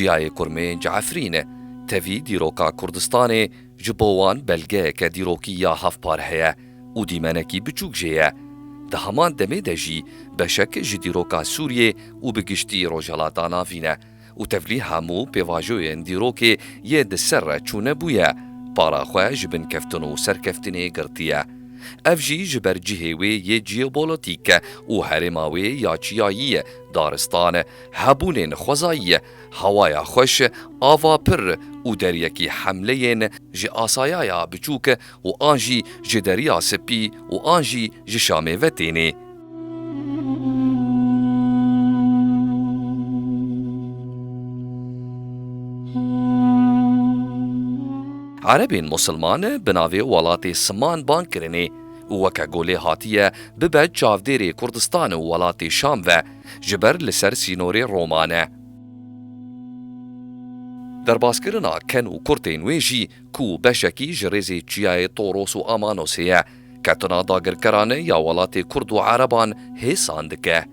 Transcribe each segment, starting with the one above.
Çiyayê Kurmê ji Efrîn e. Tevî dîroka Kurdistanê ji bo wan belgeyeke dîrokî ya hevpar heye û dîmenekî biçûk jê ye. Di heman demê de jî beşek ji dîroka Sûriyê û bi giştî Rojhilata Navîn e. Û tevlî hemû pêvajoyên dîrokê yê di ser re çûne bûye, para xwe ji binkeftin û serkeftinê girtiye. Ev jî ji ber cihê wê yê jeopolitîk û herêma wê ya çiyayî, daristan, hebûnên xwezayî, hewaya xweş, ava pir û deryekî hemleyên ji asayaya biçûk û an jî ji Deriya Sipî û an jî ji Şamê ve tênê. Erebên Musilman bi navê welatê Siman bang kirinê û weke golê hatiye bibe çavdêrê Kurdistan û welatê Şam ve ji ber li ser sînorê Roma ne. Derbaskirina ken û kurtên wê jî ku beşekî ji rêzê çiyayê Toros û Amanosê ye, ketina dagirkeran ya welatê Kurd û Ereban hêsan dike.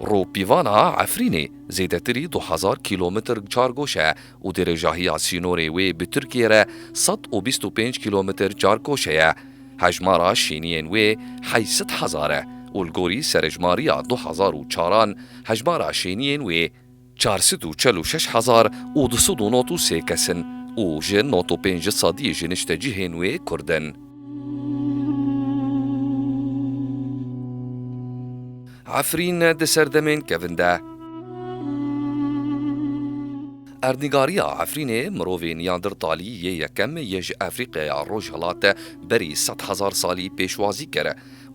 Rûpîvana Efrînê zêdetirî du hezar kîlometr çargoş e û dirêjahiya sînorê wê bi Tirkiyê re sed û bîst û pênc kîlometr çarkoşe ye. Hejmara şîniyên wê heysit hezar e û li gorî serejmariya du hezar û çar an hejmara şîniyên wê çar sed û çel û şeş hezar û du sed û nod û sê kes in û ji nod û pênc sediyê ji niştecihên wê Kurd in. Efrîn di serdemên kevin de. Erdnîgariya Efrînê mirovên ya dir talî yê yekem yê ji Efrîqeya Rojhilate berî sed hezar salî pêşwazî kir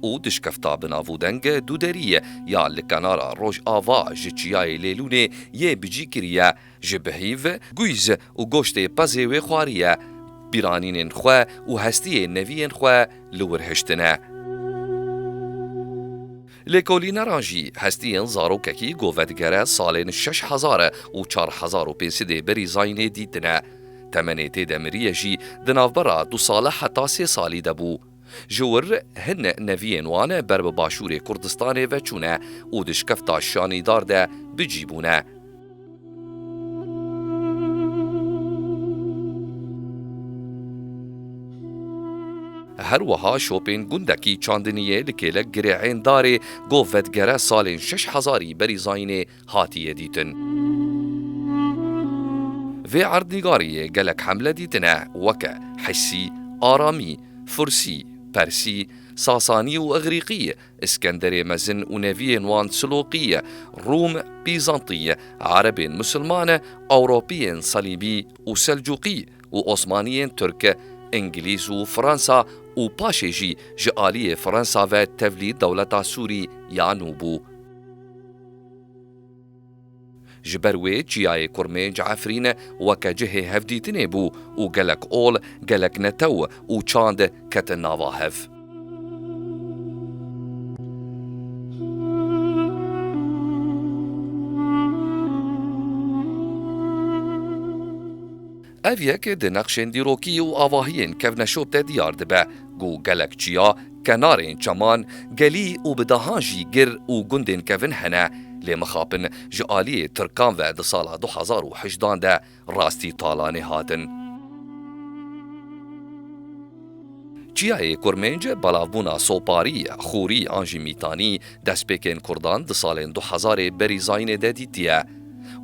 û dişkefta bi navûdeng Dûderî ya li kenara rojava ji çiyayê Lêlûnê yê bicî kiriye ji bi hîv, guyz û goştê pezê wê xwariye. Bîranînên xwe û hestiyê neviyên xwe li wir hiştine. Lêkolîneran jî hestiyên zarokekî ku vedigere salên şeş hezar û çar hezar û pênc sidê berî zayînê dîtine. Temenê tê de miriyê jî di navbera du sale heta sê salî de bû. Ji wir hin neviyên wan ber bi başûrê Kurdistanê ve çûne û di şkefta şanîdar de bicî bûne. Her wiha şopên gundekî Çandiniyê li kêlek girêhên darê Gov Vedgere salên şeş hezarî berî zayînê hatiye dîtin. Vê erdnîgariyê gelek hemle dîtine weke Hissî, Aramî, Fursî, Persî, Sasanî û Igrîqî Iskenderê Mezin û neviyên wan Siloqîye, Rûm, Bîzantîye, Erebên Musilmane, Ewropîyên Salîbî û Selcûqî û Osmanîyên Tirk, Îngilîz û Fransa û paşê jî ji alîyê Fransa ve tevlî dewleta Sûrî ya nû bû. Ji ber wê çiyayê Kurmênc Efrîne weke cihê hevdîtinê bû û gelek ol, gelek netew û çand ketin nava hev. Ev yek di nexşên dîrokî û avahiyên kevneşop de diyar dibe ku gelek çiya, kenarên çeman, gelî û bi dehan jî gir û gundên kevin hene, lê mixapin ji aliyê tirkan ve di sala du hezar û heşt dan de rastî talanê hatin. Çiyayê Kurmênc belavbûna soparî, xûrî an jî mîtanî destpêkên kurdan di salên du hezarê berî zayînê de dîtiye.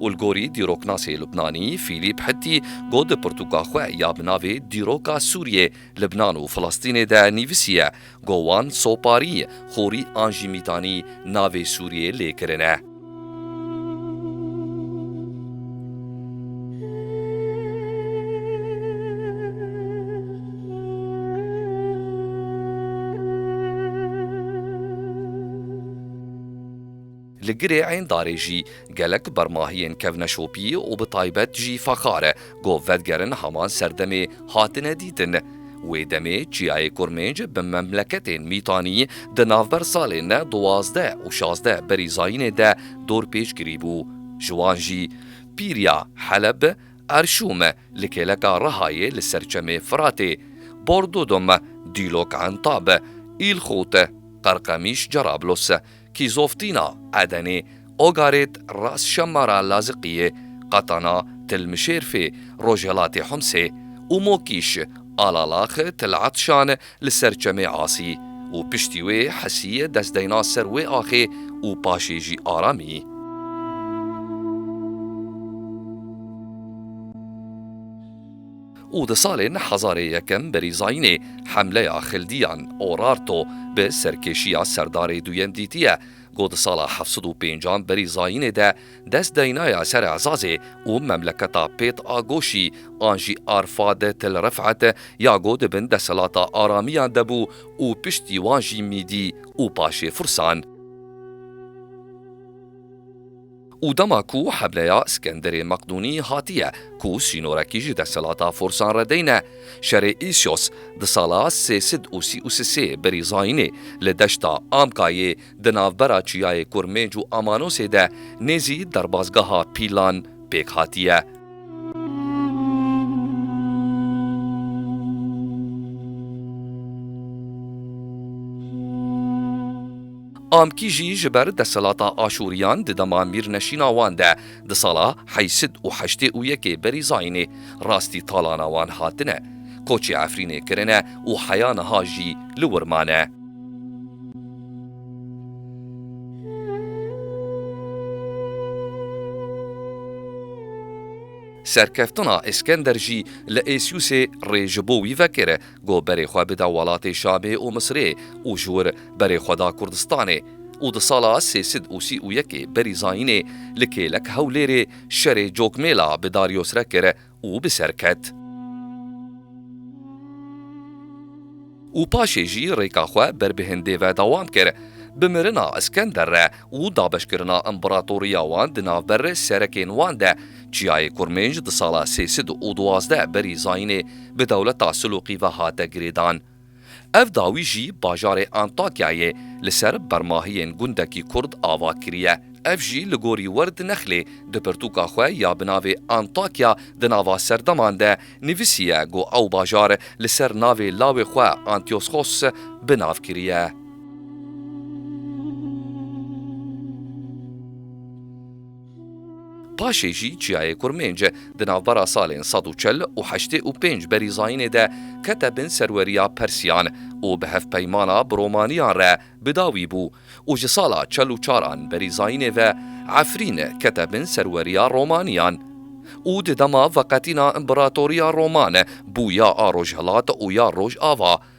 û li gorî dîroknasê Lubnanî Fîlîp Hittî got di pirtûka xwe ya bi navê Dîroka Sûriyê, Libnan û Filistînê de nivîsiye go wan soparî, xorî an jî mîtanî navê Sûriyê lê kirine. Li girê êndarê jî gelek bermahiyên kevneşopî û bi taybet jî fexar e ku vedigerin heman serdemê hatine dîtin. Wê demê çiyayê Kurmênc bi memleketên Mîtanî di navber salên duwazdeh û şazdeh berî zayînê de dorpêç kirîbû. Ji wan jî Pîriya, Heleb, Erşûm, li kêleka Rihayê li ser çemê Firatê, Bordudum, Dîlok Entab, Îlxût, Qerqemîş Cerablos, Kîzoftina, Edenê, Ogarêt, Ras Şemmara, Laziqiyê, Qatana, Til Mişêrfê, Rojhelatê Humsê, û Mokîş, Alalax, Til Etşan, li ser Çemê Asî û piştî wê Hesî dest deyna ser wê axê û paşê jî Aramî. û di salên hezarê yekem berî zayînê hemleya xildiyan, Orarto, bi serkêşiya serdarê duyem dîtiye ku di sala heft sed û pêncan berî zayînê de dest daynaye ser Ezazê û memleketa Pêt a Goşî an jî Arfad Til Rifet ya ku di bin desthilata Aramiyan de bû û piştî wan jî Mîdî û paşê Fursan Û dema ku hebleya Skenderê Meqdûnî hatiye ku sînorekî ji desthilata forsan re deyne, şerê Îsyos di sala sê sed û sî û sisê berî Zayînê li deşta Amkayê di navbera çiyayê Kurmêc û Amanosê de nêzî derbazgeha Pîlan pêk hatiye. Amkî jî ji ber desthilata Aşûriyan di dema mîrneşîna wan de di sala heyî sid û heştê û yekê berî Zayînê rastî talana wan hatine, koçê Efrînê kirine û heya niha jî li wir mane. Serkeftina Îskender jî li Êsûsê rê ji bo wî vekir e. Got berê xwe bide welatê Şamê û Misirê û ji wir berê xwe da Kurdistanê û di sala sê sed û sî û yekê berî Zayînê li kêlek Hewlêrê şerê Cokmêla bi Darios re kir û bi ser ket. Û paşê jî rêka xwe ber bi Hindê ve dewam kir. Bi mirina Iskender re û dabeşkirina împeratoriya wan di navber serekên wan de Çiyayê Kurmênc di sala sê sed û duwazdeh berî zayînê bi dewleta Silûqî ve hate girêdan. Ev dawî jî bajarê Antakyayê li ser bermahiyên gundekî Kurd ava kiriye. Ev jî li gorî Werd Nexlê di pirtûka xwe ya bi navê Antakya di nava serdeman de nivîsiye ku ew bajar li ser navê lawê xwe Antioschos bi nav kiriye. Paşê jî çiyayê Kurmênc di navbera salên sed û çil û heştê û pênc berî zayînê de kete bin serweriya Persîyan û bi hevpeymana bi Romaniyan re bi dawî bû û ji sala çil û çar an berî zayînê ve Efrîn kete bin serweriya Romaniyan û di dema veqetîna împeratoriya Roman bû ya a Rojhilat û ya Rojava.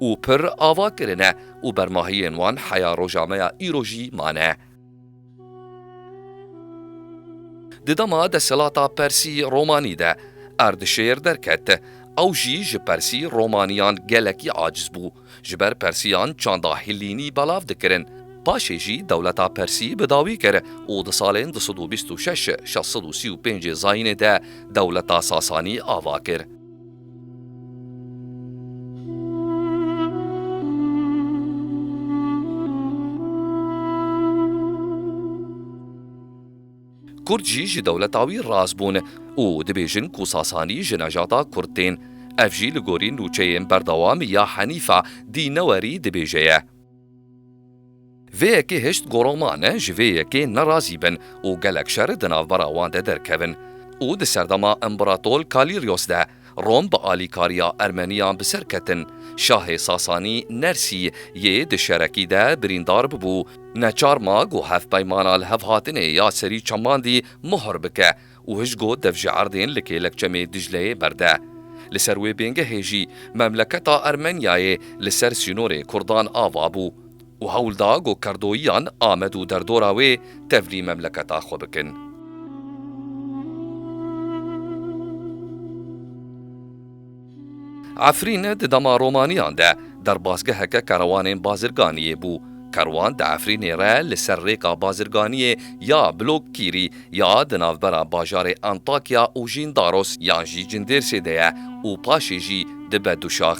û pir ava kirine û bermahiyên wan heya roja me ya îro jî mane. Di dema desthilata Persî Romanî de Erdişêr derket, ew jî ji Persî Romaniyan gelekî aciz bû, ji ber Persiyan çanda Hîllînî belav dikirin. Paşê jî dewleta Persî bi dawî kir û di salên du sed û bîst û şeş, şeş sed û sî û pêncê Zayînê de dewleta Sasanî ava kir. Kurd jî ji dewleta wî raz bûn û dibêjin ku Sasanî ji nejata Kurd tên. Ev jî li gorî nûçeyên berdewam ya Henîfa dî newerî dibêje ye. Vê yekê hişt gora ma ne ji vê yekê nerazî bin û gelek şer di navbera wan de derkevin û di serdema Împratol Kalîryos de Rom bi alîkariya Ermeniyan bi ser ketin, şahê Sasanî Nersî yê di şerekî de birîndar bibû, neçar ma ku hevpeymana lihevhatinê ya serî çemandî muhr bike, û hij got dev ji erdên li kêlek çemê Dicleyê berde. Li ser wê bêngehê jî memleketa Ermenyayê li ser sînorê kurdan ava bû û hewl da ku kerdoyiyan Amed û derdora wê tevlî memleketa xwe bikin. Efrîn di dema romaniyan de derbasgeheke kerwanên bazirganiyê bû. Kerwan di Efrînê re li ser rêka bazirganiyê ya Blok Kîrî ya di navbera bajarê Antakya û Jîndaros yan jî Cindêrsê de ye û paşê jî dibe du şax.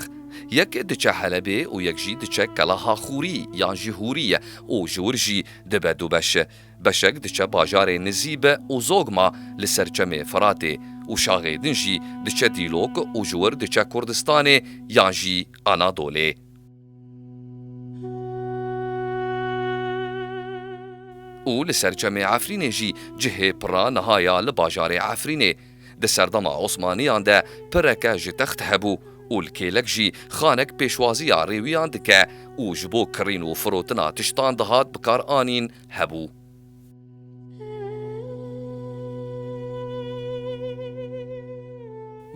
Yek diçe Helebê û yek jî diçe Kelaha Xûrî yan jî Hûrî û ji wir jî dibe du beş. Beşek diçe bajarê Nizîbe û Zogma li ser çemê Firatê û şaxê din jî diçe Dîlok û ji wir diçe Kurdistanê yan jî Anadolê. Û li ser çemê Efrînê jî cihê pira niha ya li bajarê Efrînê. Di serdema Osmaniyan de pireke ji text hebû û li kêlek jî xanek pêşwaziya rêwiyan dike û ji bo kirîn û firotina tiştan dihat bikar anîn hebû.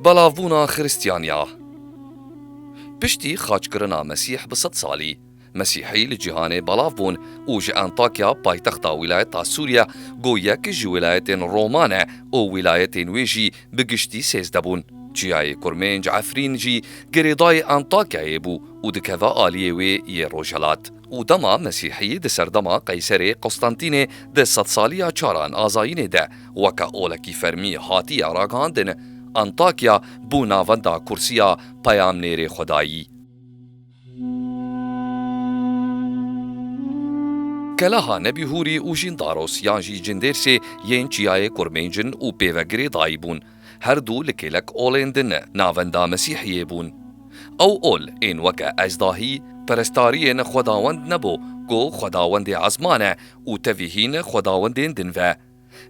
Belavbûna Xiristiyaniya Piştî xaçkirina Mesîh bi sed salî, Mesîhî li cîhanê belav bûn û ji Antakya paytexta wîlayeta Sûriya ku yek ji wîlayetên Roma ne û wîlayetên wê jî bi giştî sêzde bûn. Çiyayê Kurmênc Efrîn jî girêdayê Antakyayê bû û dikeve aliyê wê yê rojhilat. Û dema Mesîhî di serdema Qeyserê Qustantînê di sedsaliya çaran azayînê de weke olekî fermî hatiye ragihandin, Antakya bû navenda kursiya peyamnêrê xwedayî. Keleha Nebî Hûrî û Jîndaros yan jî Cindêrsê yên Çiyayê Kurmêncin û Pêvegirê dayî bûn. Her du li kêlek olên din e, navenda Mesîhiyê bûn. Ew ol ên weke Ezdahî, perestariyên xwedawend nebû ku xwedawendê ezman e û tevî hîn xwedawendên din ve.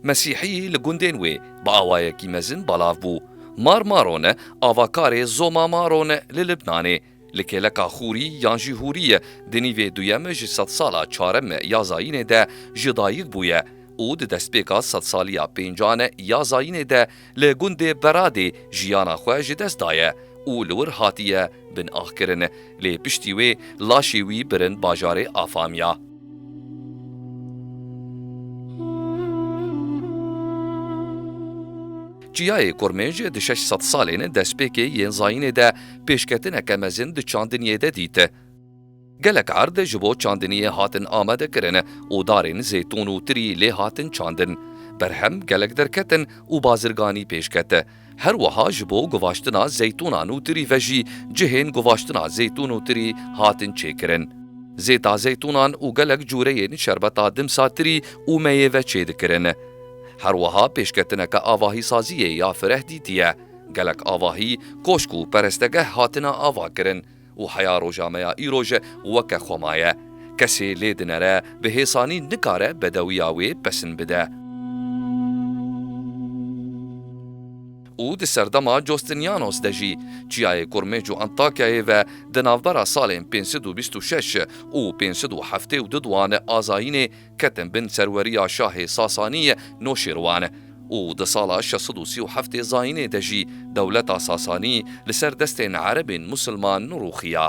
Mesîhiyî li gundên wê bi awayekî mezin belav bû. Mar Marone avakarê Zoma Marone li Libnanê. Li kêleka Xûrî yan jî Hûrî di nîvê duyem ji sedsala çarem ya zayînê de ji dayik bûye û di destpêka sedsaliya pêncan ya zayînê de li gundê Beradê jiyana xwe ji dest daye û li wir hatiye binaxkirin lê piştî wê laşê wî birin bajarê Afamya. Çiyayê Kurmêj di şeş sed salên destpêkê yên zayînê de pêşketineke mezin di çandiniyê de dît. Gelek erd ji bo çandiniyê hatin amade kirin û darên zêtûn û tirî lê hatin çandin. Berhem gelek derketin û bazirganî pêş ket. Her wiha ji bo guvaştina zeytûnan û tirî ve jî cihên guvaştina zêtûn û tirî hatin çêkirin. Zêta zeytûnan û gelek cureyên şerbeta dimsa tirî û meyêve çêdikirin. Her wiha pêşketineke avahîsaziyê ya fireh dîtiye. Gelek avahî, koşk û perestegeh hatine avakirin û heya rojameya îro ji weke xwe maye. Kesê lê dinere bi hêsanî nikare bedewiya wê pesn bide. Û di serdema Justinianos de jî, çiyayê Kurmêc û Antakyayê ve di navbera salên pênc sed û bîst û şeş û pênc sed û heftê û du di wan azayînê, ketin bin serweriya şahê Sasaniyê Noşîrwan û di sala şeş sed û sî û heftê zayînê de jî dewleta Sasanî li ser destên erebên musilman nirûxiya.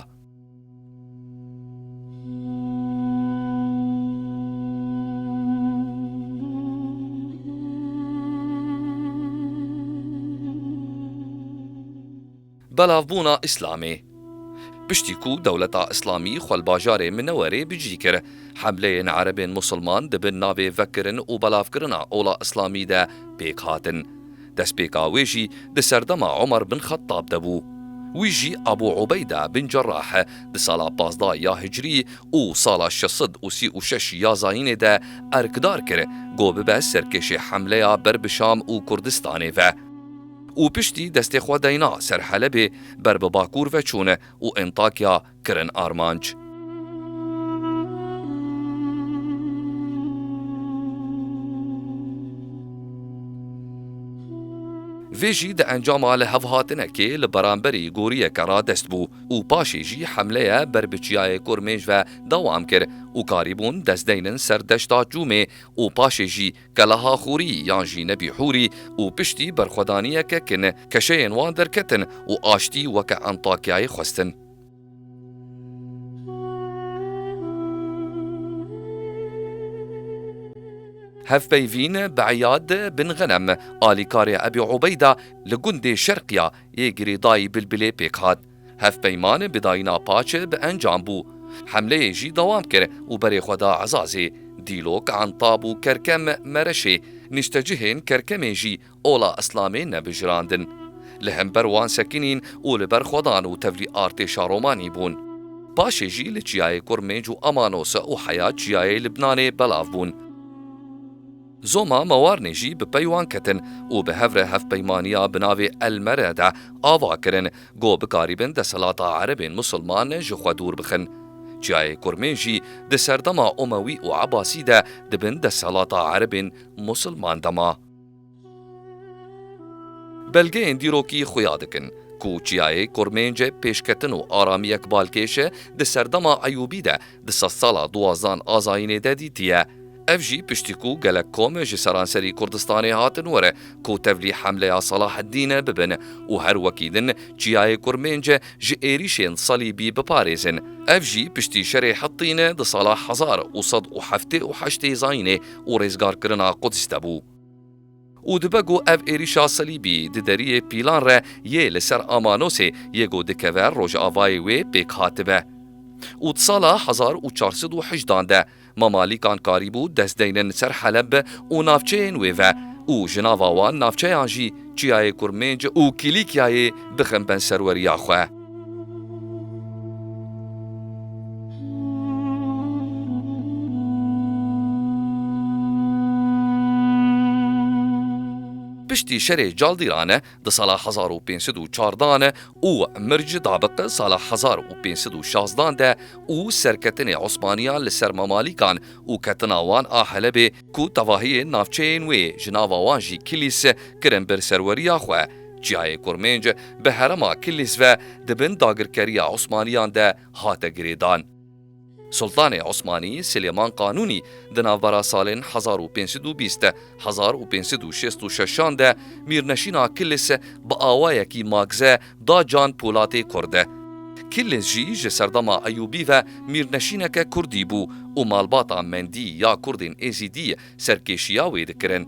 Belavbûna Îslamê Piştî ku dewleta Îslamî xwe li bajarê Minewerê bicî kir, hemleyên erebên Musulman di bin navê vekirin û belavkirina ola Îslamî de pêk hatin. Destpêka wê jî di serdema Umar bin Xettab de bû. Wî jî Ebû Ubeyda bin Cerrah di sala pazdeh ya Hicrî û sala şeş sed û sî û şeş ya Zayînê de erkdar kir ku bibe serkêşê hemleya ber bi Şam û Kurdistanê ve. û piştî destê xwe dayna ser Helebê ber bi Bakur ve çûne û Entakya kirin armanc. Vê jî di encama lihevhatinekê li beramberî goriyeke radest bû û paşê jî hemleye ber bi Çiyayê Kurmêj ve dewam kir û karîbûn dest deynin ser deşta Çûmê û paşê jî Kelaha Xûrî yan jî Nebî Hûrî û piştî berxwedaniyeke kin keşeyên wan derketin û aştî weke Antakyayê xwestin. Hevpeyvîn bi Îyad bin Xenem, alîkarê Ebî Ubeyda li gundê Şerqiya yê girêdayî Bilbilê pêk hat. Hevpeyman bi dayîna paçe bi encam bû. Hemleyê jî dewam kir û berê xwe da Ezazê, Dîlok, Entab û Kerkem, Mereşê, niştecihên Kerkemê jî ola Îslamê nebijirandin. Li hember wan sekinîn û li ber xwedan û tevlî artêşa Romanî bûn. Paşê jî li çiyayê Kurmênc û Amanos û heya çiyayê Libnanê belav bûn. Zoma Mewarnê jî bi pey wan ketin û bi hev re hevpeymaniya bi navê El Mere de ava kirin ku bikarîbin desthilata Erebên Musulman ji xwe dûr bixin. Çiyayê Kurmê jî di serdema Omewî û Ebasî de di bin desthilata Erebên Musulman de ma. Belgeyên dîrokî xuya dikin ku Çiyayê Kurmê ji pêşketin û aramiyek balkêş di serdema Eyûbî de di sedsala duwazdan Azayînê de dîtiye. Ev jî piştî ku gelek kom ji seranserî Kurdistanê hatin were ku tevlî hemleya Salaheddîn bibin û her wekî din çiyayê Kurmênc ji êrîşên Salîbî biparêzin. Ev jî piştî şerê Hittîn di sala hezar û sed û heftê û heştê zayînê û rêzgarkirina Quds de bû. Û dibe ku ev êrîşa Selîbî di deriyê pîlan re yê li ser Amanosê yê ku dikeve rojavayê wê pêk hatibe. Û di sala hezar û çar sed û hejdan de Mamalîkan karîbû dest deynin li ser Heleb û navçeyên wê ve û ji nava wan navçeyan jî Çiyayê Kurmênc û Kîlîkyayê bixin ben serweriya xwe. Piştî şerê caldîran e di sala hezar û pênc sed û çar dan e û Mirc Dabik sala hezar û pênc sed û şazt dan de û serketinê Osmaniyan li ser Mamalîkan û ketina wan a Helebê ku tevahiyên navçeyên wê ji nava wan jî Kilîs kirin ber serweriya xwe, çiyayê Kurmênc bi herêma Kilîs ve di bin dagirkeriya Osmaniyan de hate girêdan. Sultanê Osmanî Silêman Qanûnî di navbera salên hezar û pênc sed û bîst hezar û pênc sed û şêst û şeşan de mîrneşîna Kilîs bi awayekî magze da Can Polatê Kurd e. Kilîz jî ji serdema Eyûbî ve mîrneşîneke Kurdî bû û malbata Mendî ya Kurdên Êzîdî serkêşiya wê dikirin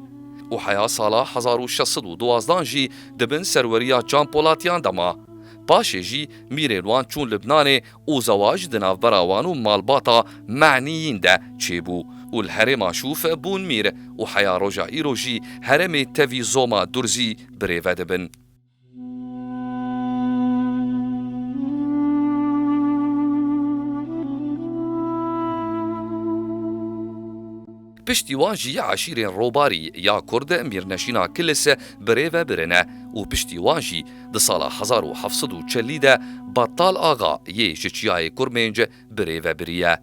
û heya sala hezar û şeş sed û duwazdan jî di bin serweriya Can Polatiyan de ma. Paşê jî mîrên wan çûn Libnanê û zewac di navbera wan û malbata Menîyîn de çêbû û li herêma Şûf bûn mîr û heya roja îro jî heremê tevî Zoma Durzî birêve dibin. Piştî wan jî eşîrên Robarî ya Kurd Mîrneşîna Kilis bi rê ve birine û piştî wan jî di sala hezar û heft sed û çelî de Battal Axa yê ji Çiyayê Kurmênc bi rê ve biriye.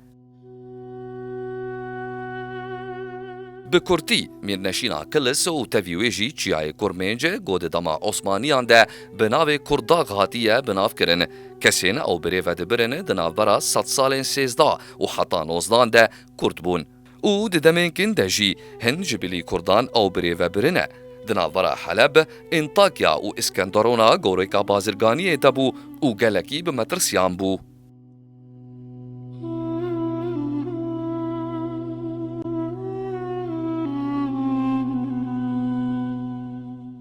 Bi kurtî, Mîrneşîna Kilis û tevî wê jî Çiyayê Kurmênc ku di dema Osmaniyan de bi navê Kurdag hatiye bi nav kirin. Kesên ew birê vedibirin di navbera sed salên sêzda û heta nozdan de Kurd bûn. Û di demên kin de jî hin ji bilî Kurdan ew birê vebirine. Di navbera Heleb, Entakya û Iskenderona goreka bazirganiyê de bû û gelekî bi metirsiyan bû.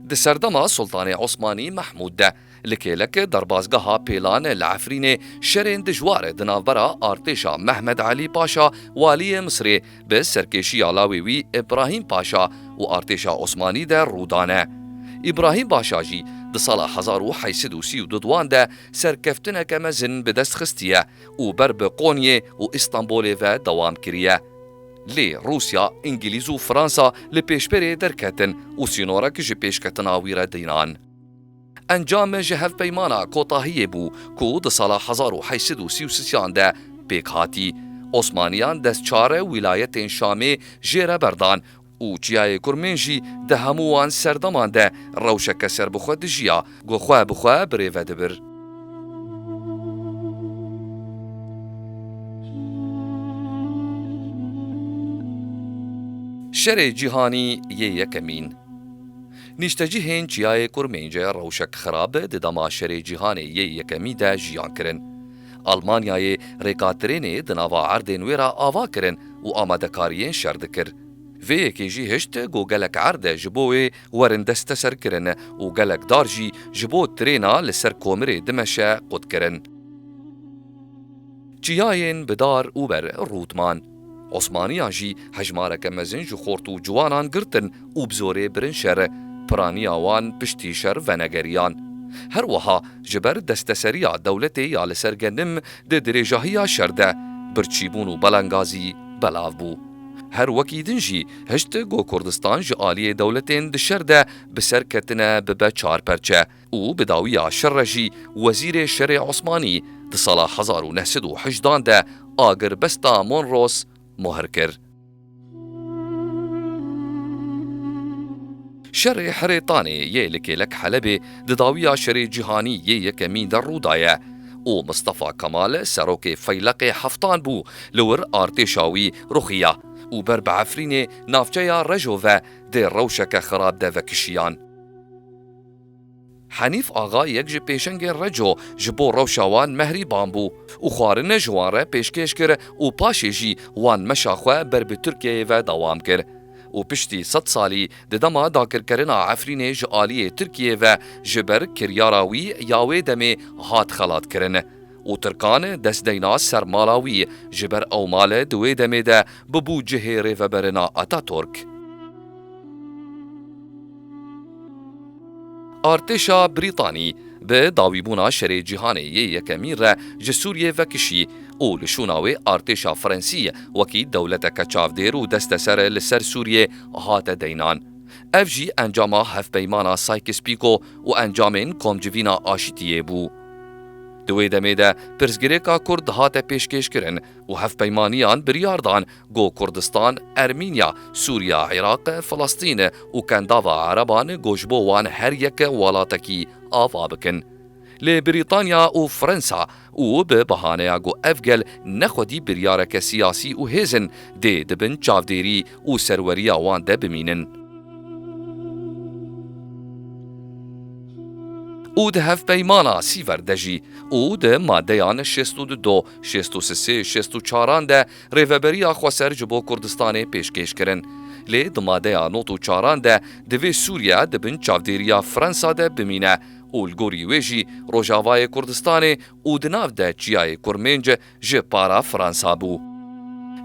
Di serdema Sultanê Osmanî Mehmûd de li kêlek derbazgeha Pêlan li Efrînê şerên dijwar di navbera artêşa Mehmed Elî Paşa Waliyê Misirê bi serkêşiya lawê wî Îbrahîm Paşa û artêşa Osmanî de rû dane. Îbrahîm Paşa jî di sala hezar û heşt sed û sî û du di wan de Serkeftineke mezin bi dest xistiye û ber bi Konyê û Îstanbulê ve dewam kiriye. Lê Rûsya, Îngîlîz û Fransa li pêşberê derketin û sînorek ji pêşketina wî re dinan. Encam ji hevpeymana kotahiyê bû ku di sala hezar û heşt sed û sî û sian de pêk hatî. Osmaniyan destçare wîlayetên Şamê jê re berdan û çiyayê Kurmên jî di hemû wan serdeman de rewşeke serbixwe dijiya ku xwe bi xwe birêve dibir. Şerê Cîhanî yê Yekemîn Nîştecihên çiyayê Kurmên ji rewşek xirab di dema Şerê Cîhanê yê Yekemî de jiyan kirin. Almanyayê rêkatirênê di nava erdên wê re ava kirin û amadekariyên şer dikir. Vê yekê jî hişt ku gelek erd ji bo wê werin desteserkirin û gelek dar jî ji bo tirêna li ser komirê dimeşe qut kirin. Çiyayên bi dar û ber rût man. Osmaniyan jî hejmareke mezin ji xort û ciwanan girtin û bi zorê birin şer, piraniya wan piştî şer venegeriyan. Her wiha ji ber desteseriya dewletê ya li ser genim di dirêjahiya şer de, birçîbûn û belengazî belav bû. Her wekî din jî hişt ku Kurdistan ji aliyê dewletên di şer de bi ser ketine bibe çar perçe. û bi dawiya şer re jî wezîrê şerê Osmanî di sala hezar û neh sed û hejdan de agirbesta Monros mohr kir. Şerê Hirê Tanê yê li kêlek Helebê di dawiya şerê cîhanî yê yekemîn de rû daye û Mistefa Kemal serokê feyleqê heftan bû li wir artêşa wî ruxiya û ber bi Efrînê navçeya Rejove dê rewşeke xirab de vekişiyan. Henîf Axa yek ji pêşengên Reco ji bo rewşa wan mehrîban bû û xwarine ji wan re pêşkêş kir û paşê jî wan meşa xwe ber bi Tirkiyeyê ve dewam kir û piştî sed salî di dema dakirkerina Efrînê ji aliyê Tirkiyeyê ve ji ber kiryara wî ya wê demê hat xelatkirin û Tirkan dest deyna ser mala wî ji ber ew male di wê demê de bibû cihê rêveberina Ataturk. Artêşa Brîtanî bi dawîbûna Şerê Cîhanê yê Yekemîn re ji Sûriyê vekişî û li şûna wê artêşa Frensî wekî dewleteke çavdêr û desteser li ser Sûriyê hate deynan. Ev jî encama Hevpeymana Sykes-Pîko û encamên Komcivîna Aşitiyê bû. Di wê demê de pirsgirêka Kurd hate pêşkêşkirin û hevpeymaniyan biryar dan Go Kurdistan, Ermînya, Sûriya, Iraq, Filistîn û kendava ereban go ji bo wan her yek welatekî ava bikin. Lê Brîtanya û Firensa û bi bihaneya go ev gel ne xwedî biryareke siyasî û hêz in, dê di bin çavdêrî û serweriya wan de bimînin. Û di hevpeymana Sîver de jî û di madeyan şêst û du, şêst û sisê, şêst û çaran de Rêveberiya xweser ji bo Kurdistanê pêşkêş kirin. Lê di madeya not û çaran de divê Sûriye di bin çavdêriya Fransa de bimîne û li gorî wê jî Rojavayê Kurdistanê û di nav de Çiyayê Kurmênc ji para Fransa bû.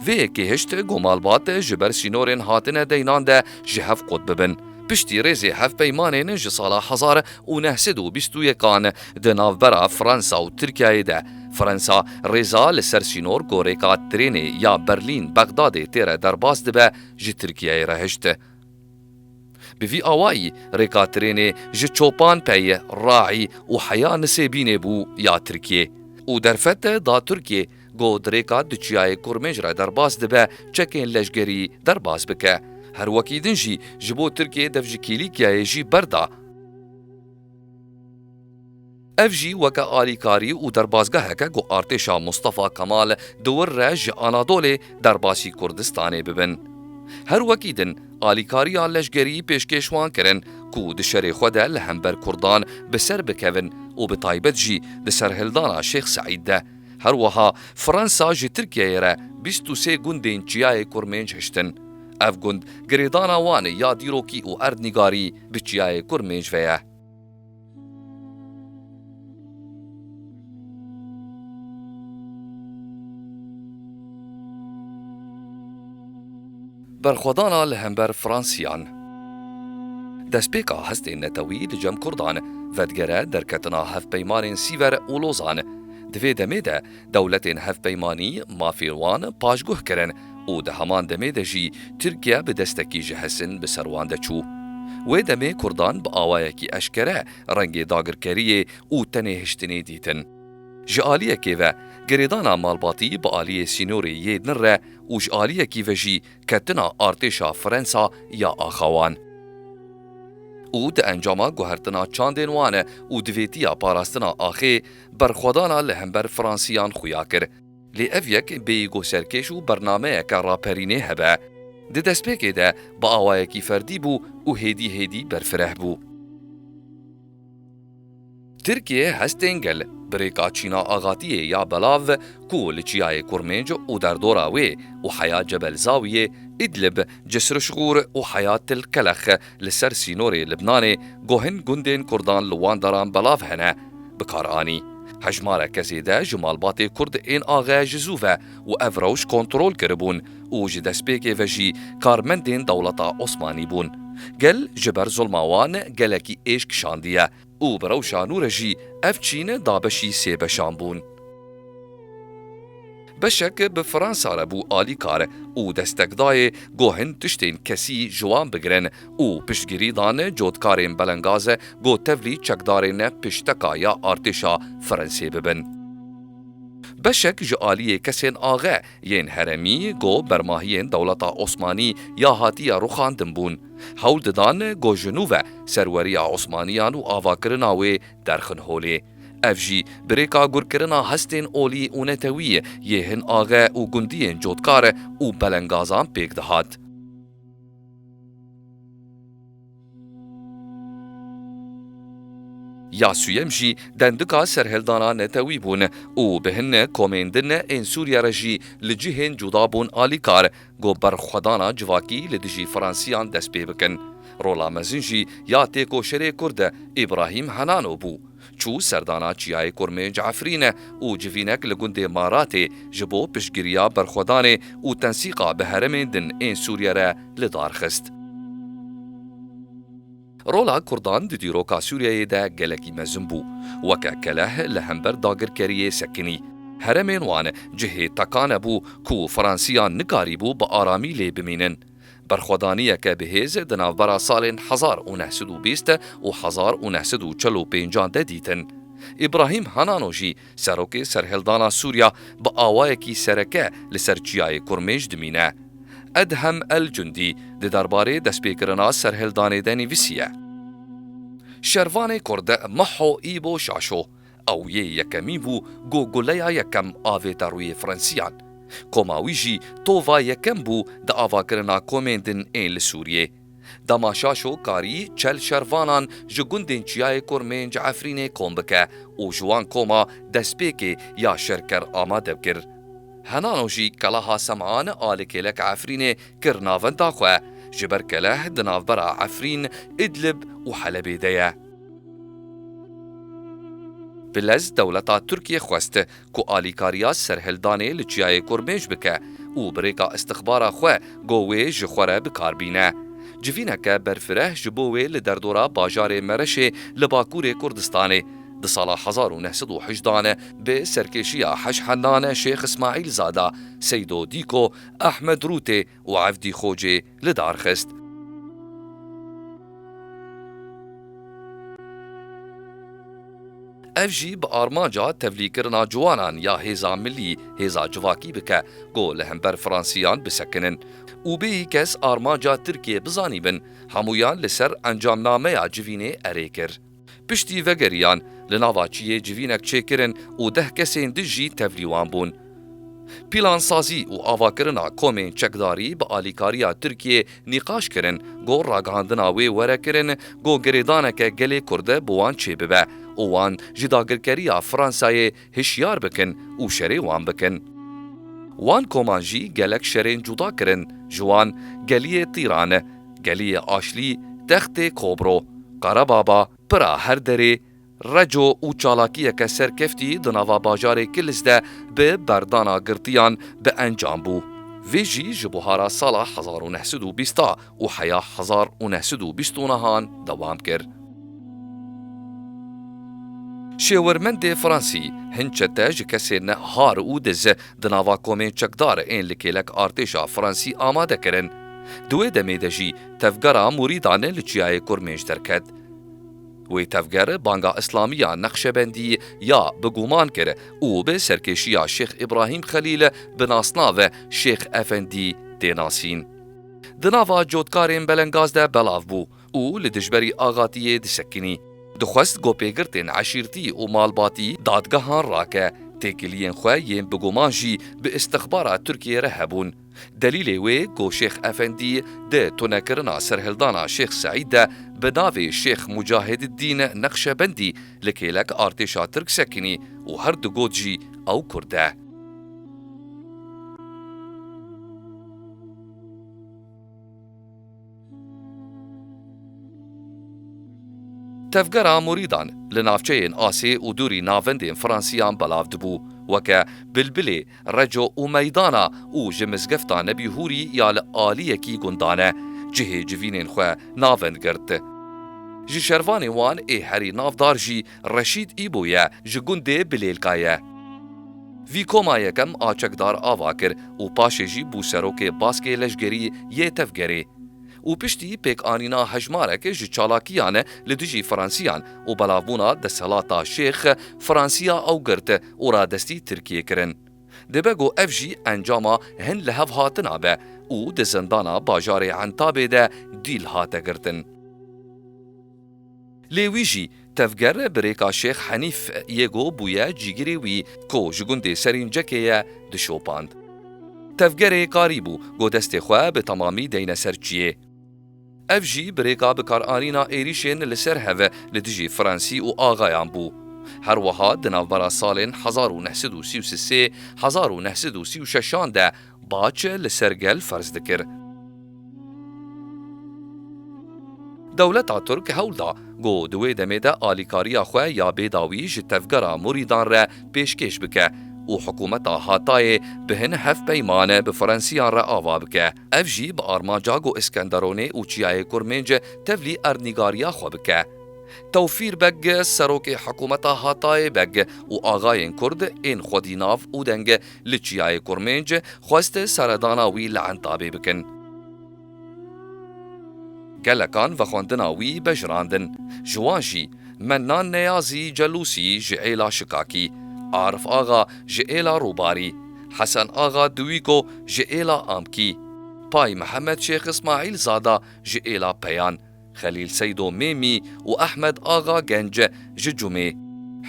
Vê yekê hişt ku malbat ji ber sînorên hatine deynan de ji hev qut bibin. Piştî rêzê hevpeymanên ji sala hezar û neh sed û bîst û yekan di navbera Fransa û Tirkiyeyê de Fransa rêza li ser sînor gorêka trênê ya Berlîn Bexdadê tê re derbas dibe ji Tirkiyeyê re hişt. Bi vî awayî rêka trênê ji Çopanpeyê, Raî û heya Nisêbînê bû ya Tirkiyê û derfet da Tirkiyê. Got dirêka di çiyayê Kurmêj re derbas dibe çekên leşgerî derbas bike. Her wekî din jî ji bo Tirkiyeyê dev ji Kîlîkyayê jî berda. Ev jî weke alîkarî û derbasgeheke ku artêşa Mustafa Kemal di wir re ji Anadolê derbasî Kurdistanê bibin. Her wekî din alîkariya leşgerî pêşkêş wan kirin ku di şerê xwe de li hember Kurdan bi ser bikevin û bi taybet jî di serhildana Şêx Seîd de. Her wiha Fransa ji Tirkiyeyê re bîst û sê gundên Çiyayê Kurmênc hiştin. Ev gund girêdana wan ê ya dîrokî û erdnîgarî bi Çiyayê Kurmênc ve ye. Berxwedana li hember Fransiyan. Destpêka hestên netewî di cem Kurdan vedigere derketina hevpeymanên Sîver û Lozan. Di vê demê de dewletên hevpeymanî mafên wan paşguh kirin û di heman demê de jî Tirkiye bi destekî ji hesin bi ser wan de çû. Wê demê Kurdan bi awayekî eşkere rengê dagirkeriyê û tenêhiştinê dîtin. Ji aliyekê ve girêdana malbatî bi aliyê sînorê yê din re û ji aliyekî ve jî ketina artêşa Frensa ya axawan û di encama guhertina çandên wan û divêtiya parastina axê, berxwedana li hember Fransiyan xuya kir. Lê ev yek bêyîgo serkêş û bernameyeke raperînê hebe. Di destpêkê de bi awayekî ferdî bû û hêdî hêdî berfireh bû. Tirkiye hestên gel bi rêka Çîna Axatiyê ya belav ku li Çiyayê Kurmêc û derdora wê û Heya Cebel Zawiyê, Îdlib, Cisr Şigur û Heya Til Kelex li ser sînorê Libnanê guhin gundên Kurdan li wan daran belav hene, bi kar anî. Hejmareke zêde ji malbatê Kurd ên axe ji zû ve û ev rewş kontrol kiribûn. û ji destpêkê ve jî karmendên dewleta Osmanî bûn. Gel ji ber zulma wan gelekî êş kişandiye û bi rewşa nû re jî ev çîn dabeşî sê beşan bûn. Beşek bi Fransa re bû alîkar û destek dayê ku hin tiştên kesî ji wan bigirin û piştgirî dan cotkarên Belengaze ku tevlî çekdarên pişteka ya artêşa Fransê bibin. Beşek ji aliyê kesên axe Yên heremî ku bermahiyên dewleta Osmanî ya hatiye rûxandin bûn, hewl didan ku ji nû ve serweriya Osmaniyan û avakirina wê derxin holê. Ev jî bi rêka gurkirina hestên olî û netewî yê hin axe û gundiyên cotkar û belengazan pêk dihat. Ya sûyem jî dendika serhildana netewî bûn û bi hin ne komên din ne ên Sûriye re jî li cihên cuda bûn alîkar ku berxwedana civakî li dijî Fransiyan dest pê bikin. Rola mezin jî ya têkoşerê Kurd e Îbrahîm Henano bû. Çû serdana Çiyayê Kurmênc Efrîne û civînek li gundê Maratê ji bo piştgiriya berxwedanê û tensîqa bi heremên din ên Sûriye re li dar xist. Rola Kurdan di dîroka Sûriyeyê de gelekî mezin bû. Weke keleh li hember dagirkeriyê sekinî. Heremên wan cihê tekane bû ku Fransiyan nikarîbû bi aramî lê bimînin. Berxwedaniyeke bihêz di navbera salên hezar û neh sed û bîst û hezar û neh sed û çil û pênc an de dîtin. Îbrahîm Hanano jî serokê serhildana Sûriya bi awayekî sereke li ser Çiyayê Kurmêj dimîne. Edhem El Cundî di derbarê destpêkirina serhildanê de nivîsiye. Şervanê Kurd Maho Îbo Şaşo Ew yê yekemî bû ku guleya yekem avêta rûyê Frensiyan. Koma wî jî tova yekem bû di avakirina komên din ên li Sûriyê. Dema Şaşo karî çel şervanan ji gundên Çiyayê Kurmên ji Efrînê kom bike û ji wan koma destpêkê ya şerker amade bikir. Henano jî keleha Sem'an a li kêleka Efrînê kir navenda xwe, ji ber keleh di navbera Efrîn, Idlib û Helebê de ye. Bilez dewleta Tirkiyê xwest ku alîkariya serhildanê li Çiyayê Kurmêj bike û bi rêka îstixbara xwe got wê ji xwe re bikar bîne. Civîneke berfireh ji bo wê li derdora bajarê Mereşê li Bakurê Kurdistanê di sala hezar û neh sed û hejda ne bi serkêşiya Heşhendan Şêx Îsmaîlzada, Seydo Dîko, Ehmed Rûtê, û evdî Xocê li dar xist. Ev jî bi armanca tevlîkirina ciwanan ya hêza milî, hêza civakî bike ku li hember Fransiyan bisekinin û bêyî kes armanca Tirkiyê bizanîbin. Hemûyan li ser encamnameya civînê erê kir. Piştî vegeriyan, li nava çiyê civînek çêkirin û deh kesên din jî tevlî wan bûn. Pîlansazî û avakirina komên çekdarî bi alîkariya Tirkiyê nîqaş kirin ku ragihandina wê were kirin ku girêdaneke gelê Kurd bi wan çêbibe û wan ji dagirkeriya Fransayê hişyar bikin û şerê wan bikin. Wan koman jî gelek şerên cuda kirin ji wan geliyê Tîrane, geliyê Aşlî, Textê Kobro, Qerebaba, Pira Herderê, Reco û çalakiyeke serkeftî di nava bajarê Kilis de bi berdana girtiyan bi encam bû. Vê jî ji buhara sala hezar û neh sed û bîst a. û heya hezar û neh sed û bîst û nehan dewam kir. Şêwirmendê Fransî, Hin çete ji kesên ne har û diz di nava komên çekdar ên li kêlek artêşa Fransî amade kirin. Di wê demê de jî tevgera mûrîdan li çiyayê Kurmênc derket. Wê tevger banga îslamiya Neqşebendî ya bi guman kir û bi serkêşiya Şêx Îbrahîm Xelîl bi nasnave Şêx Efendî tê nasîn. Di nava cotkarên Belengaz de belav bû û li dijberî Axatiyê disekinî. Dixwest gopêgirtên eşîrtî û malbatî dadgehan rake, têkiliyên xwe yên bi guman jî bi îstixbara Tirkiyê re hebûn. Delîlê wê ku Şêx Efendî di tunekirina serhildana Şêx Seîd de bi navê Şêx Mucahididdîn Neqşebendî li kêlek artêşa Tirk sekinî û her digot jî ew Kurd e. Tevgera murîdan li navçeyên asê û dûrî navendên Fransîyan belav dibû, weke Bilbilê, Reco û Meydana û ji Mizgefta Nebî Hûrî ya li aliyekî gundane, cihê civînên xwe navend girt. Ji şervanên wan ê herî navdar jî Reşîd Îbo ye, ji gundê Bilêlka ye. Vî koma yekem Açekdar ava kir û paşê jî bû serokê Baskê Leşgerî yê Tevgerê û piştî pêkanîna hejmarek ji çalakiyan li dijî Fransîyan û belavbûna desthilata Şêx Fransîya ew girt û radestî Tirkiyê kirin. Dibe ku ev jî encama hin lihevhatina be û di zindana bajarê Entabê de dîl hate girtin. Lê wî jî tevger bi rêka Şêx Henîf yê go bûye cîgirê wî ku ji gundê Serîncekê ye dişopand. Tevgerê karî bû go destê xwe bi temamî deyne ser çiyê. Ev jî bi rêka bikaranîna êrîşên li ser hev li dijî Fransî û axayan bû. Herwiha di navbera salên hezar û neh sed û sî û sê hezar û neh sed û sî û şeşan de, Bac li ser gel ferz dikir. Dewleta Tirk hewl da ku di wê demê de alîkariya xwe ya bêdawî ji tevgera murîdan re pêşkêş bike û hikûmeta Hatayê bi hin hevpeyman bi Frensiyan re ava bike. Ev jî bi armanca ku Iskenderonê û Çiyayê Kurmênc tevlî erdnîgariya xwe bike. Tewfîr Beg, serokê hikûmeta Hatayê Beg û axayên Kurd ên xwedî nav û deng Li Çiyayê Kurmênc xwest seredana wî li Entabê bikin. Gelekan vexwendina wî bejirandin. Ji wan jî, Mennan Neyazî Celûsî ji Êla Şikakî, Arif Axa ji Êla Rûbarî, Hesen Axa Diwîko ji Êla Amkî, Pay Mihemed Şêx Îsmaîl Zada ji Êla Peyan, Xelîl Seydo Mêmî û Ehmed Axa Gence ji Cûmê.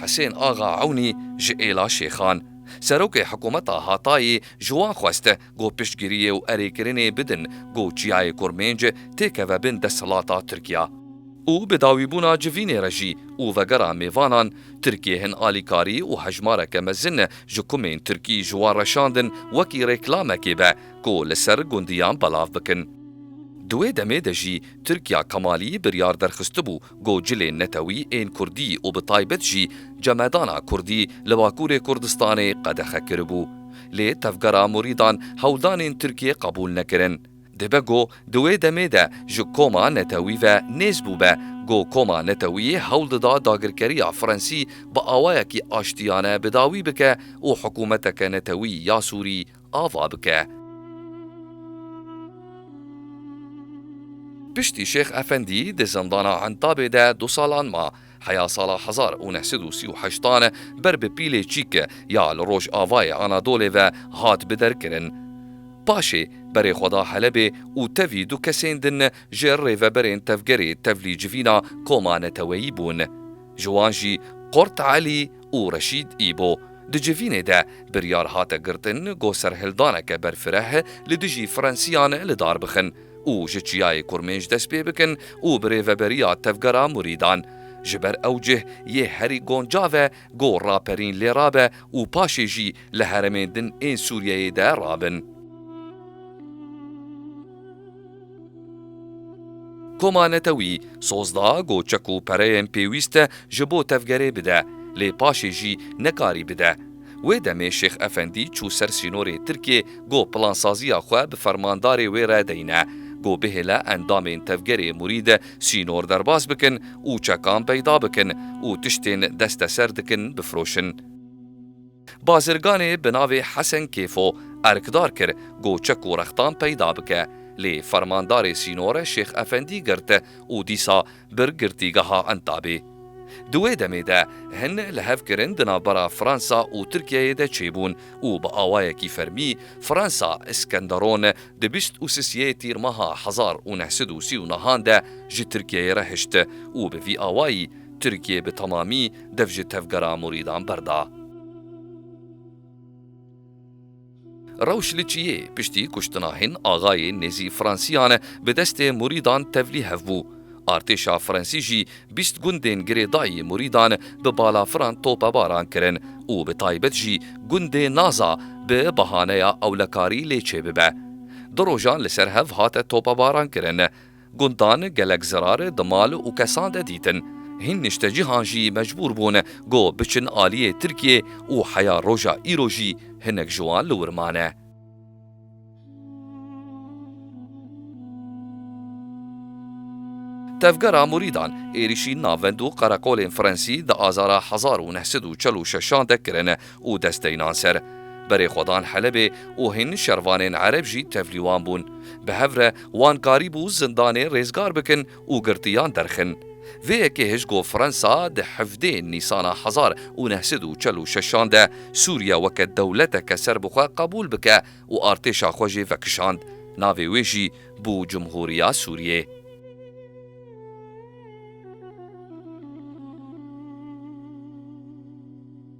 Hisên Axa Ewnî ji Êla Şêxan. Serokê Hikumeta Hatayê ji wan xwest ku piştgiriyê û erêkirinê bidin ku Çiyayê Kurmênc têkeve bin desthilata Tirkiya. Û bi dawîbûna civînê re jî û vegera mêvanan, Tirkiyê hin alîkarî û hejmareke mezin ji kumên Tirkî ji wan reşandin wekî rêklamekê be, ku li ser gundiyan belav bikin. Di wê demê de jî Tirkiya Kemalî biryar derxistibû ku cilên netewî ên Kurdî û bi taybet jî cemedana Kurdî li Bakurê Kurdistanê qedexe kiribû. Lê tevgera murîdan hewldanên Tirkiyê qebûl nekirin. Dibe ku di wê demê de ji koma netewî ve nêz bûbe ku koma netewî hewl dida dagirkeriya Frensî bi awayekî aştiyane bi dawî bike û hikûmeteke netewî ya Sûrî ava bike. Piştî Şêx Efendî di zindana Entabê de du salan ma, heya sala hezar û neh sed û sî û heştan ber bi pîlê çîk ya li rojavayê Anadolê ve hat biderkirin. Paşê berê xwe da Helebê û tevî du kesên din ji rêveberên tevgerê tevlî civîna koma neteweyî bûn. Ji wan jî Qurt Elî, û Reşîd Îbo. Di civînê de biryar hate girtin ku serhildaneke berfireh li dijî Frensîyan li dar bixin û ji Çiyayê Kurmêj dest pê bikin û bi rêveberiya Tevgera Murîdan ji ber ew cih yê herî goncav e ku raperîn lê rabe û paşê jî li heremên din ên Sûriyeyê de rabin. Koma Netewî soz da ku çek û pereyên pêwîst e ji bo tevgerê bide, lê paşê jî nekarî bide. Wê demê Şêx Efendî çû ser sînorê Tirkiyê ku plansaziya xwe bi fermandarê wê re deyne ku bihêle endamên tevgerê Murîd sînor derbas bikin û çekan peyda bikin û tiştên desteser dikin bifiroşin. Bazirganê bi navê Hesen Kêfo erkdar kir ku çek û rextan peyda bike, lê fermandarê sînore Şêx Efendî girt û dîsa bir girtîgeha Entabê. Di wê demê de hin lihevkirin di navbera Fransa û Tirkiyeyê de çêbûn û bi awayekî fermî Fransa Iskenderon di bîst û sisê Tîrmeha hezar û neh sed û sî û nehan de ji Tirkiyeyê re hişt û bi vî awayî Tirkiye bi temamî dev ji tevgera murîdan berda. Rewş li çiyê piştî kuştina hin axayê nêzî Fransîyan bi destê murîdan tevlî hev bû. Artêşa Fransî jî bîst gundên girêdayî murîdan bi balafiran topebaran kirin û bi taybet jî gundê Naza bi bahaneya ewlekarî lê çêbibe. Du rojan li ser hev hate topebaran kirin. Gundan gelek zirar di mal û kesan de dîtin. Hîn niştecihan jî mecbûr bûn ku biçin aliyê Tirkiyê û heya roja îro jî hinek ji wan li wir mane. Tevgera Murîdan, êrîşî navend û qereqolên Frensî di azara hezar û neh sed û çil û şeşan de kirin. û dest de înan ser. Berê xwe dan Helebê û hîn şervanên Ereb jî tevlî wan bûn. Bi hev re wan karîbû zindanê rêzgar bikin û girtiyan derxin. Vê yekê hişt ku Fransa di hevdê Nîsana hezar û neh sed û çel û şeşan de Sûriye weke dewleteke ser bi xwe qebûl bike û artêşa xwe jê vekişand, navê wê jî bû Cumhûriya Sûriyê.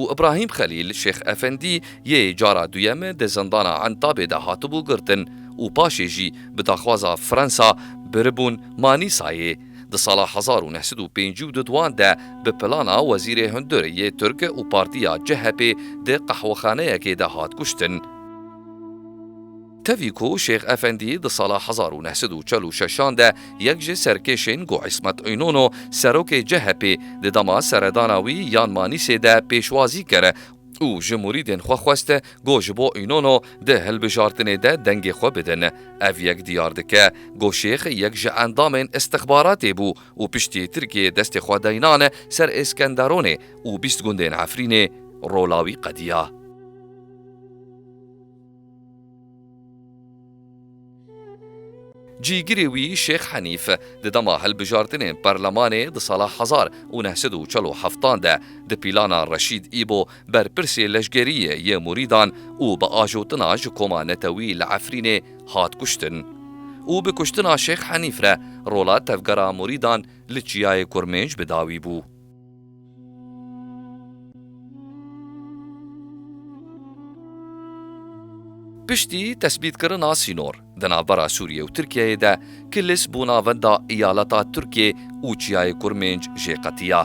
û Îbrahîm Xelîl Şêx Efendî yê cara duyem di zindana Entabê de hatibû girtin û paşê jî bi daxwaza Fransa biribûn Manîsayê. Di sala hezar û neh sed û pêncî û duduan de bi plana wezîrê hundir yê Tirk û partiya CHP'ê di qehwexaneyekê de hat kuştin. Tevî ku Şêx Efendî di sala hezar û neh sed û çil û şeşan de yek ji serkêşên ku Îsmet Înono serokê CHP'ê di dema seredana wî yan Manîsê de pêşwazî kir û ji murîdên xwe xwest ku ji bo Înono di hilbijartinê de dengê xwe bidin. Ev yek diyar dike ku Şêx yek ji endamên îstixbaratê bû û piştî Tirkiyeyê destê xwe daynan ser Êskenderonê û bîst gundên Efrînê rola wî qediya. Cîgirê wî Şêx Henîf di dema hilbijartinên Perlemanê di sala hezar û neh sed û çel û heftan de di pîlana Reşîd Îbo berpirsê leşgeriyê yê murîdan û bi ajotina ji koma netewî li Efrînê hat kuştin û bi kuştina Şêx Henîf re rola tevgera murîdan li Çiyayê Kurmênc bi dawî bû. Piştî tesbîtkirina sînor di navbera Sûriyê û Tirkiyeyê de Kilis bû navenda îyaleta Tirkê û Çiyayê Kurmênc jê qetiya.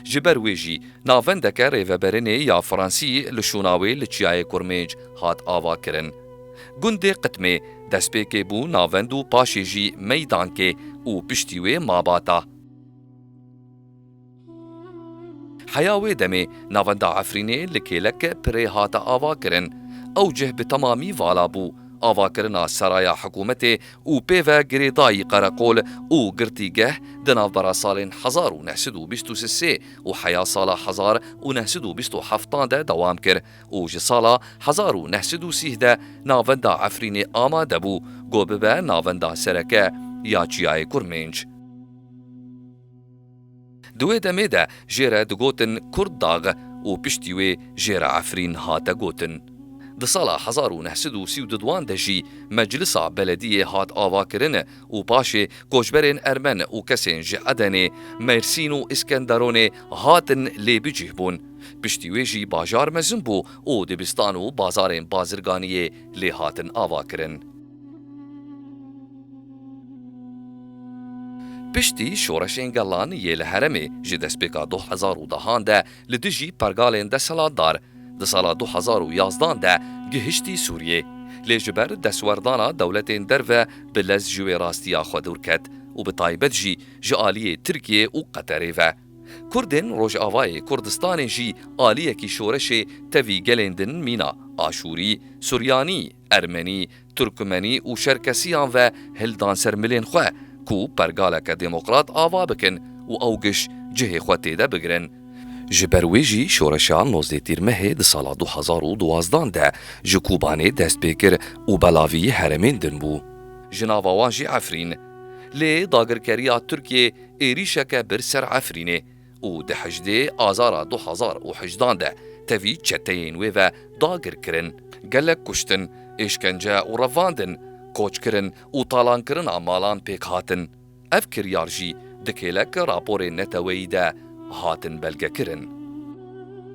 Ji ber wê jî navendeke rêveberinê ya Fransî li şûna wê li Çiyayê Kurmênc hat avakirin. Gundê Qitmê destpêkê bû navend û paşê jî Meydankê û piştî wê Mabata. Heya wê demê navenda Efrînê li kêlek pirê hate avakirin. Ew cih bi temamî vala bû. Avakirina seraya hikûmetê û pê ve girêdayî qereqol û girtîgeh di navbera salên hezar û neh sed û bîst û sê û heya sala hezar û neh sed û bîst û heftan de dewam kir û ji sala hezar û neh sed û sîh de navenda Efrînê amade bû ku bibe navenda sereke ya Çiyayê Kurmênc. Di wê demê de jê re digotin Kurd Dag û piştî wê jê re Efrîn hate gotin. Di sala hezar û neh sed û sî û du duan de jî Meclisa Belediyê hat avakirin û paşê koçberên ermen û kesên ji Edenê, Mêrsîn û Îskenderonê hatin lê bicih bûn. Piştî wê jî bajar mezin bû û dibistan û bazarên bazirganiyê lê hatin avakirin. Piştî şoreşên gelan yê li heremê ji destpêka du hezar û dehan de li dijî pergalên desthilatdar, di sala du hezar û yazdan de gihiştî Sûriyê, lê ji ber destwerdana dewletên derve bi lez ji wê rastiya xwe dûr ket û bi taybet jî ji aliyê Tirkiyê û Qeterê ve. Kurdên Rojavayê Kurdistanê jî aliyekî şoreşê tevî gelên din mîna, Aşûrî, Suryanî, Ermenî, Turkmenî û Çerkesîyan ve hil dan ser milên xwe ku pergaleke demokrat ava bikin û ew giş cihê xwe têde bigirin. Ji ber wê jî şoreşa nozdeh Tîrmehê di sala du hezar û duwazdan de ji Kûbanê dest pê kir û belavî heremên din bû. Ji nava wan jî Efrîn. Lê dagirkeriya Tirkiyê êrîşeke bir ser Efrînê. û di hejdê Azara du hezar û hejdan de tevî çeteyên wê ve dagir kirin, gelek kuştin, êşkence û revandin, koçkirin û talankirina malan pêk hatin. Ev kiryar jî di kêlek raporên neteweyî de hatin belgekirin.